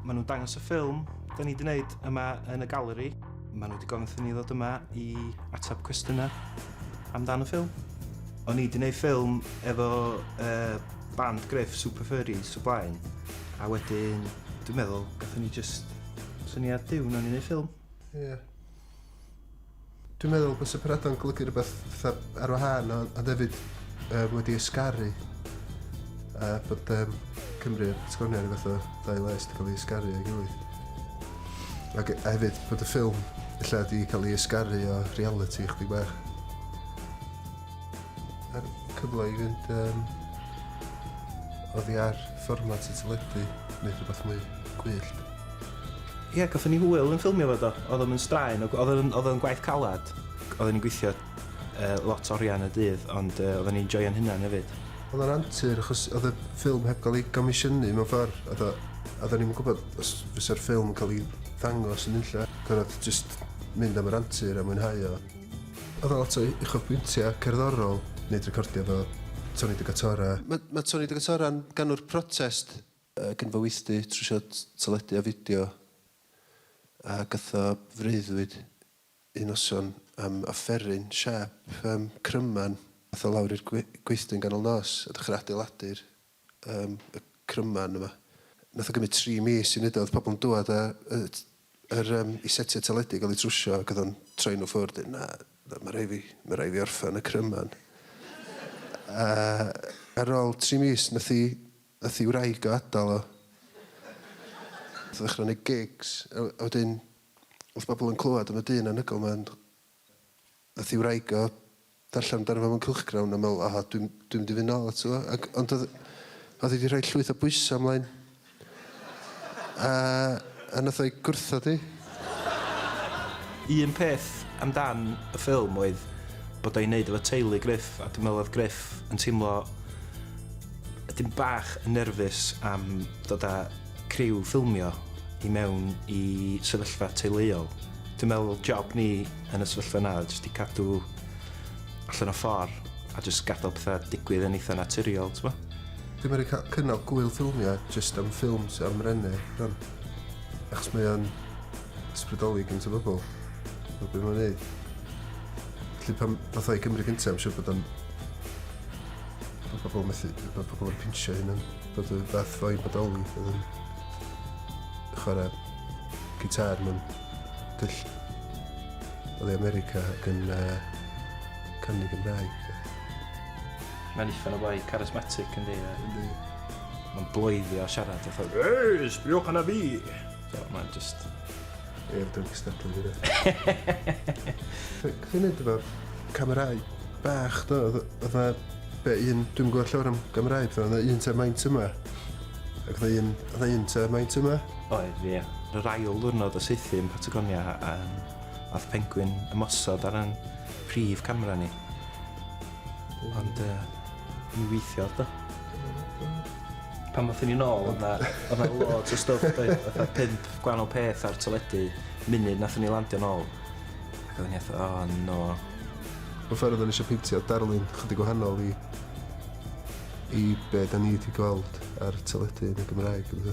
Maen nhw'n dangos y ffilm da ni 'di wneud yma yn y galeri. Maen nhw 'di gofyn wrthyn ni ddod yma i ateb cwestiynau amdan y ffilm. O'n i 'di wneud ffilm efo uh, band Griff, Super Furries, o blaen. A wedyn, dwi'n meddwl, gatho ni just syniad diwn o'n i'n neud ffilm. Ie. Yeah. Dwi'n meddwl bysa pennado'n golygu rhywbeth fatha ar wahân ond ond hefyd um, wedi ysgaru a bod um, Cymru a'r Patagonia rhywbeth o ddau les wedi cael ei ysgaru ei gilydd. Ac a hefyd bod y ffilm illa wedi cael ei ysgaru o reality chdi bach. A'r cyfle i fynd um, oddi ar fformat y teledu neu rhywbeth mwy gwyllt. Ie, gathon ni hwyl yn ffilmio fo do. Odd o'm yn straen o gw- odd o'n odd o'n gwaith calad. Oedden ni'n gweithio yy lot oria yn y dydd ond yy oedden ni'n joio'n hunan hefyd. Odd o'n antur achos odd y ffilm heb ga'l ei gomisiynu mewn ffor a do- a odden ni'm yn gwbod os fysa'r ffilm yn ca'l i ddangos yn nunlle. Gorod jyst mynd am yr antur a mwynhau o. Odd o lot o u- uchafbwyntia cerddorol, neud recordia efo Tony de Gatora. Ma' ma' Tony de Gatora'n ganwr protest Ac yn fy weithdy trwsio teledu a fideo a gytho freuddwyd un noson am offeryn siâp yym cryman. Ath o lawr i'r gwe- gweithdy yn ganol nos a dechra adeiladu'r yym y cryman yma. Nath o gymyd tri mis i neud o, o'dd pobl yn dŵad a yy yr yym i setia teledu i ga'l ei trwsio ac o'dd o'n troi nhw ffwrdd deu' na na ma' rai' fi ma' rai' fi orffan y cryman. A ar ôl tri mis nath i Nath i wraig o adal o. Nath o ddechra neud gigs a a wedyn nath bobol yn clywad am y dyn anhygoel ma ond nath i wraig o ddarllen amdano fo mewn cylchgrawn a me'wl o dwi'm dwi'm mynd i fyn nôl ato fo ag ond odd odd 'i 'di rhoi llwyth o bwysa mlaen a a nath o'i gwrthod 'i. Un peth am dan y ffilm oedd bod o i neud efo teulu Gruff a dwi'n meddwl oedd Gruff yn teimlo ydyn bach yn nerfus am dod a criw ffilmio i mewn i sefyllfa teuluol. Dwi'n meddwl job ni yn y sefyllfa yna oedd jyst i cadw allan o ffor a jyst gadal petha digwydd yn eitha naturiol t'mo? Dim yn roi cynog gwyl ffilmio jyst am ffilms am rene rwan. Achos mae o'n ysbrydoli gynt o bobl. Mae beth mae'n neud. Felly pan fath o'i Cymru gyntaf, I'm siŵr bod o'n... Mae pobl methu... Mae pobl yn pinsio hyn yn... Bod y fath o'i bodoli oedd yn... Chwarae gitar mewn dyll oedd ei America ac yn uh, canu Gymraeg. Mae'n uffern o boi, charismatic yn di. Yndi. Mae'n bloeddio a siarad a thod. Ei, sbriwch yna fi! So, mae'n just... E'r dwi'n cystadlu fi dde. Fi'n neud efo'r camerau bach do, oedd na be un, dwi'n gwybod llawer am gamerau, oedd na un te maint yma, ac oedd un, oedd un te maint yma. Oedd, ie. Yr ail ddwrnod o seithi yn Patagonia, um, oedd pengwyn ymosod ar yn prif camera ni. Ond, uh, i weithio do. Pan wnaethon ni nôl, oedd na, oedd na loads o stwff doedd, fatha pimp gwahanol peth ar teledu munud wnaethon ni landio nôl. Ac oedden ni atho, o oh, no. Mae'n ffordd oedden ni eisiau peintio darlun chydig gwahanol i i be da ni wedi gweld ar teledu yn y Gymraeg. Ydw.